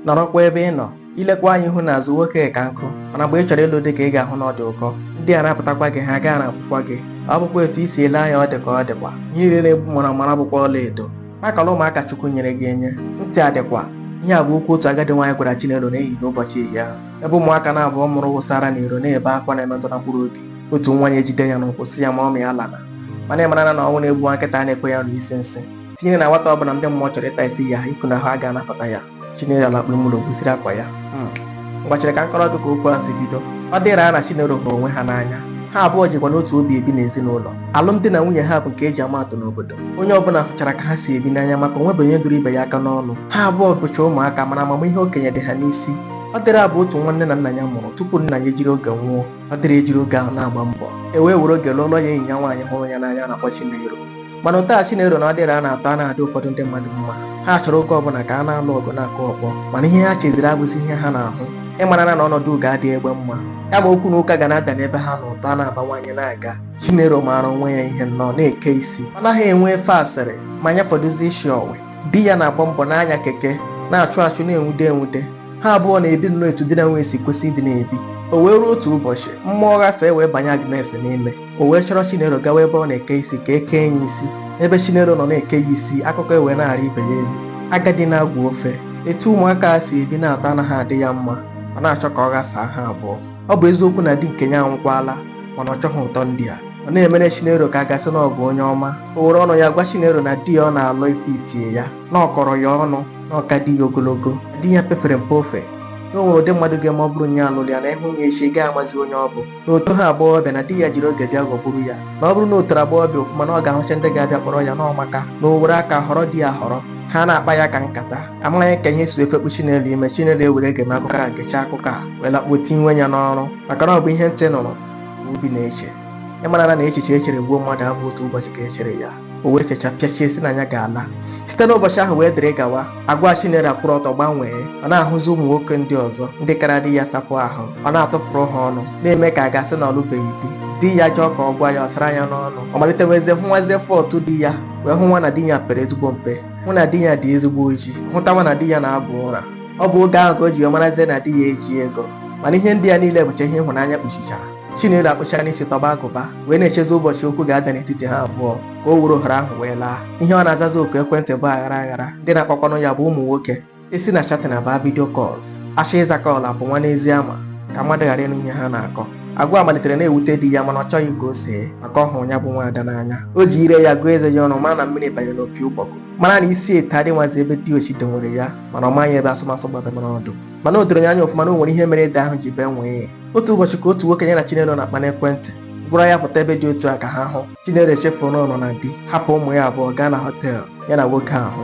nọrọkwa ebe ị nọ ilekwa anya ihu n'azụ nwoke ka nkụ mana mgbe ị chọrọ ịlụ di ka ị ga-ahụ na ọ dị ụkọ ndị a rapụtakwa gị ha ga-arapụkwa gị ọ bụkwa etu i si ele anya ọ dị ka ọ dịkwa ihe niile na-egbu mara mara abụkwa ọla edo akọla ụmụaka chukwu nyere gị enye ntị adịkwa ihe a bụ okwu otu agadi nwaanyị gwara Chinelo n'ehihie n'ụbọchị ehihie ahụ ebe ụmụaka naabọ ọ mụrụ wụsara n'iro na-ebe akwa na-emetụ na mkpụrụ obi otu nwa ya ejide ya n'ụkwụ sị ya mọmị alana mana ị mara na ọnwụ na-egbu nwa nkịta a na-ekwe ya anụ isi nsị tinyere na nwata ọbụla ndị mmụọ chọrọ ịta isi ya iku na ahụ a ga-anapụta ya chinelo ala kpụrụmụrụ gwusiri akwa ya mgbachiri ka m kọrọ gị ka okwu a si bido Ọdịra na chinelo hụrụ onwe ha n'anya ha abụọ jikwa n'otu obi ebi n'ezinụlọ alụmdi na nwunye ha bụ nke eji ama atụ n'obodo onye ọbụla hụchara ka ha si ebi n'anya maka o nwebe onye duru ibe ya aka n'ọnụ ha abụọ bụcha ụmụaka mana amamihe okenye dị ha n'isi Ọdịra bụ otu nwa nne na nna ya mụrụ tupu nna ya ejiri oge nwụọ Ọdịra ejiri oge ahụ na-agba mbọ e wee were oge lụọlọ ya enyi ya nwaanyị hụrụ ya n'anya na-akpọ Chinelo mana ụtọ a chinelo na Ọdịra na-atọ a na-adị ụfọdụ ndị mmadụ mma ha chọrọ oge ọbụla ka a na-alụ ọgụ na-akụ ọkpọ mana ihe ha cheziri abụzi ihe ha na-ahụ ịmarana na ọnọdụ ugo adịghị egbe mma kama okwu na ụka ga na-ada n'ebe ha na ụtọ a na-abawanye na-aga chinelo maara onwe ya ihe nnọọ na-eke isi ọ naghị enwe efe asịrị ma ya fọdụzi isi ọwe di ya na-agba mbọ n'ịnya keke na-achụ achụ na-enwude enwude ha abụọ na-ebi nnọọ etu di na nwunye si kwesị ịdị na-ebi o wee ruo otu ụbọchị mmụọ ghasa e wee banye Agnes n'ime o wee chọrọ chinelo gawa ebe ọ na-eke isi ka e kee ya isi ebe chinelo nọ na-eke ya isi akụkọ ewee na-arị ibe ya elu agadi na-agwọ ofe etu ụmụaka a si ebi na-atọ anaghị adị ya mma ọ na-achọ ka ọ ghasaa ha abụọ ọ bụ eziokwu na di nke ya anwụkwala mana ọ chọghị ụtọ ndị a ọ na-emere chinelo ka a ga-asị na ọ bụ onye ọma o were ọnụ ya gwa chinelo na di ya ọ na-alụ efitie ya na ọ kọrọ ya ọnụ na ọ ka di ya ogologo di ya pefere mpe ofe na o nwere ụdị mmadụ ga-eme ọ bụrụ onye lụrụ ya na ị hụ ya echi ị gaghị amazi onye ọ bụ na o toghị agbọghọbịa na di ya jiri oge bịa ghọgburu ya na ọ bụrụ na o toro agbọghọbịa ofụma na ọ ga-ahụcha ndị ga-abịa kpọrọ ya na ọ maka na o were aka họrọ di ya họrọ ha na-akpa ya ka nkata amaghị ka ihe si efekpu chinelo ime chinelo ewere gem akụkọ a gechaa akụkọ a wee lakpuo tinye ya n'ọrụ maka na ọ bụ ihe ntị nụrụ ka obi na-eche ịmarana na echiche echere gbuo mmadụ abụ otu ụbọchị ka echere ya o wee checha pịachie sị na ya ga-ala site n'ụbọchị ahụ wee dịrị gawa agwa chinelo akwụrụ ọtọ gbanwee ọ na-ahụzi ụmụ nwoke ndị ọzọ ndị kara di ya sapụ ahụ ọ na-atụpụrụ ha ọnụ na-eme ka a ga-asị na ọ lụbeghị di di ya chọọ ka ọ gwa ya ọ sara ya n'ọnụ ọ malitewezie hụwazie fault di ya wee hụwa na di ya pere ezigbo mpe hụ na di ya dị ezigbo oji hụtawa na di ya na-agwọ ụra ọ bụ oge ahụ ka o ji wee marazie na di ya eji ego mana ihe ndị a niile bụcha ihe ịhụnanya kpuchichara Chinelo akpụchara n'isi tọba agụba wee na-echezi ụbọchị okwu ga-ada n'etiti ha abụọ ka o wuru ohere ahụ wee laa ihe ọ na-azazi oku ekwentị bụ aghara aghara ndị na-akpakwanụ ya bụ ụmụ nwoke e si na chatin abaa vidio kọl a chọọ ịza kọl apụnwa n'ezi ama ka mmadụ ghara ịnụ ihe ha na-akọ agwa malitere na-ewute di ya mana ọ chọghị ka o see maka ọ hụrụ ya bụ nwaada n'anya o ji ire ya gụọ eze ya ọnụ mara na mmiri banye n'opi ụgbọgụ mara na isi ete adịnwazi ebe diochi dowere ya mana ọ maghị ebe asụmasụ gbabara ọdụ mana o doro ya anya ọfụma na o nwere ihe mere ede ahụ ji bee nwịị otu ụbọchị ka otu nwoke ya na Chinelo na-akpa n'ekwentị gwara ya pụta ebe dị otu a ka ha hụ Chinelo echefuru na ọ nọ na di hapụ ụmụ ya abụọ gaa na họteelụ ya na nwoke ahụ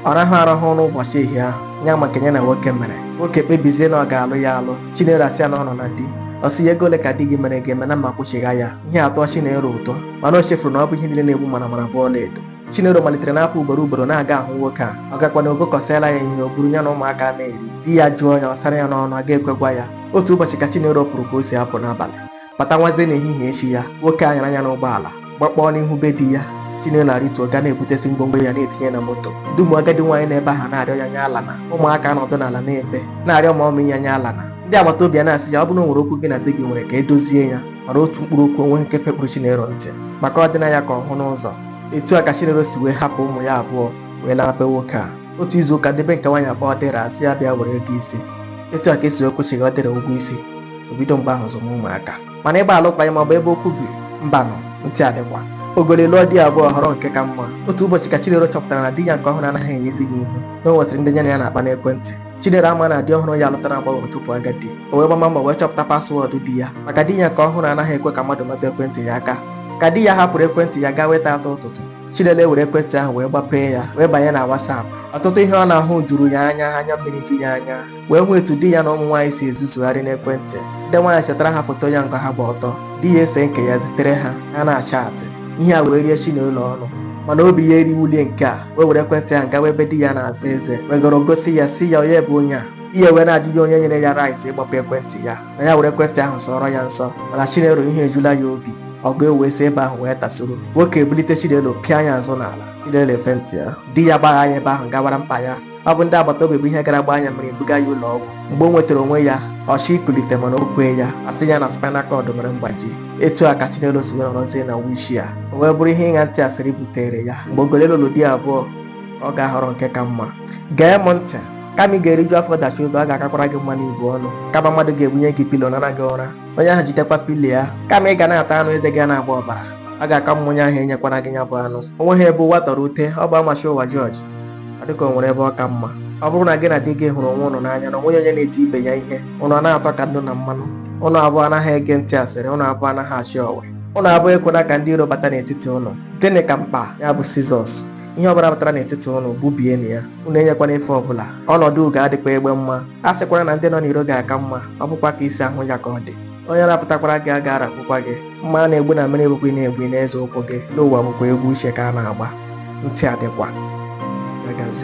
ọ rahụ arahụ n'ụbọchị ihe ahụ ị ma ka ya na nwoke mere nwoke kpebizie na ọ ga-alụ ya alụ Chinelo asị ya na ọ nọ na di ọ sị ya ego ole ka di gị mere gị eme na m ma-akwụchigha ya ihe a atọọ Chinelo ụtọ mana o chefuru na ọ bụghị ihe niile na-egbu mara mara bụ ọlaedo Chinelo malitere na-apụ ugboro ugboro na-aga ahụ nwoke a ọ gakwana o gokọsịala ya ihe o buru ya na ụmụaka na-eri di ya jụọ ya ọ sara ya n'ọnụ a ga-ekwekwa ya otu ụbọchị ka Chinelo pụrụ ka o si apụ n'abalị bata nwazie n'ehihie echi ya nwoke a nyara ya n'ụgbọala gbakpọọ n'ihu be di ya Chinelo arịtuo gaa na-ebutesi ngwongwo ya na-etinye na moto dum agadi nwaanyị na be ha na-arịọ ya nya alana ụmụaka nọdụ n'ala na-ebe na-arịọ mọmị ya nya alana ndị agbata obi a na-asị ya ọ bụrụ na o nwere okwu gị na di gị nwere ka e dozie ya mana otu mkpụrụ okwu onweghị nke fekpụrụ Chinelo ntị maka ọ dịna ya ka ọ hụna ụzọ etu a ka chinelo si wee hapụ ụmụ ya abụọ wee laa be nwoke a otu izu ụka ndị be nke nwaanyị akpọọ Ọdịra sị ya bịa were ego isi etu a ka e si wee kwụchigha Ọdịra ụgwọ isi o bido mgbe ahụ zụma ụmụaka mana ịgba alụkwaghị m ọ bụ ebe okwu bi mbanụ ntị adịkwa ogoli lụọ di abụọ ọ họrọ nke ka mma otu ụbọchị ka chinelo chọpụtara na di ya nke ọhụrụ anaghị enyezi ya ihu na o nwesịrị ndị ya na ya na-akpa n'ekwentị Chinelo ama na di ọhụrụ ya lụtara agbọghọ chụpụ agadi o wee gbama mbọ wee chọpụta paswọọdụ di ya maka di ya nke ọhụrụ anaghị ekwe ka mmadụ metụ ekwentị ya aka ka di ya hapụrụ ekwentị ya gawa ịta atụ ụtụtụ Chinelo ewere ekwentị ahụ wee gbapee ya wee banye na WhatsApp ọtụtụ ihe ọ na-ahụ juru ya anya anya mmiri ju ya anya wee hụ etu di ya na ụmụ nwaanyị si ezuzugharị n'ekwentị ndị nwaanyị setara ha foto ya nke ha gba ọtọ di ya ese nke ya zitere ha ha na-achaatị ihe a wee rie Chinelo ọnụ mana obi ya eriwulie nke a wee were ekwentị ahụ gawa ebe di ya na-asa eze wegoro gosi ya sị ya onye bụ onye a di ya wee na-ajụ ya onye nyere ya rait ịgbape ekwentị ya na ya were ekwentị ahụ sọọrọ ya nsọ mana chinelo ihe ejula ya obi ọgụ ewee si ebe ahụ wee tasoro nwoke ebulite chinelo pịa ya azụ n'ala chinelo afentịa di ya gbagha ya ebe ahụ gawara mkpa ya ọ bụ ndị agbata obi bụ ihe gara gbaa ya mmiri buga ya ụlọ ọgwụ mgbe o nwetara onwe ya ọ chọọ ikulite mana o kweghị ya a sị ya na spinal cord mere mgbaji etu a ka Chinelo si wee nọrọzie na wheelchair o wee bụrụ ihe ịṅa ntị asịrị butere ya mgbe ogoli lụrụ di abụọ ọ ga-ahọrọ nke ka mma gee m ntị kama ị ga-eriju afọ dachie ụzọ ọ ga-akakwara gị mma na i bu ọnụ kama mmadụ ga-ebunye gị pilo nara gị ụra onye ahụ jidekwa pilo ya kama ị ga na-ata anụ eze gị na-agba ọbara ọ ga-aka mma onye ahụ enyekwala gị ya bụ anụ onweghị ebe ụwa tọrọ ute ọ bụ a machie ụwa jọji ọ dịka o nwere ebe ọ ka mma ọ bụrụ na gị na di gị hụrụ onwe ụnụ n'anya na onweghị onye na-eti ibe ya ihe ụnụ a na-atọ ka nnu na mmanụ ụnụ abụọ anaghị ege ntị asịrị ụnụ abụọ anaghị achị ọwa ụnụ abụọ ekwela ka ndị iro bata n'etiti ụnụ dịnị ka mkpa ya bụ scissors ihe ọbụla batara n'etiti ụnụ gbubienụ ya ụnụ enyekwana efe ọbụla ọnọdụ ugo adịkwa egbe mma a sịkwara na ndị nọ n'iro ga-aka mma ọ bụkwa ka i si ahụ ya ka ọ dị onye rapụtakwara gị a ga-arapụkwa gị mma a na-egbu na mmiri bụkwa ị na-egbu ị na-eze ụkwụ gị n'ụwa bụkwa egwu uche ka a na-agba ntị adịkwa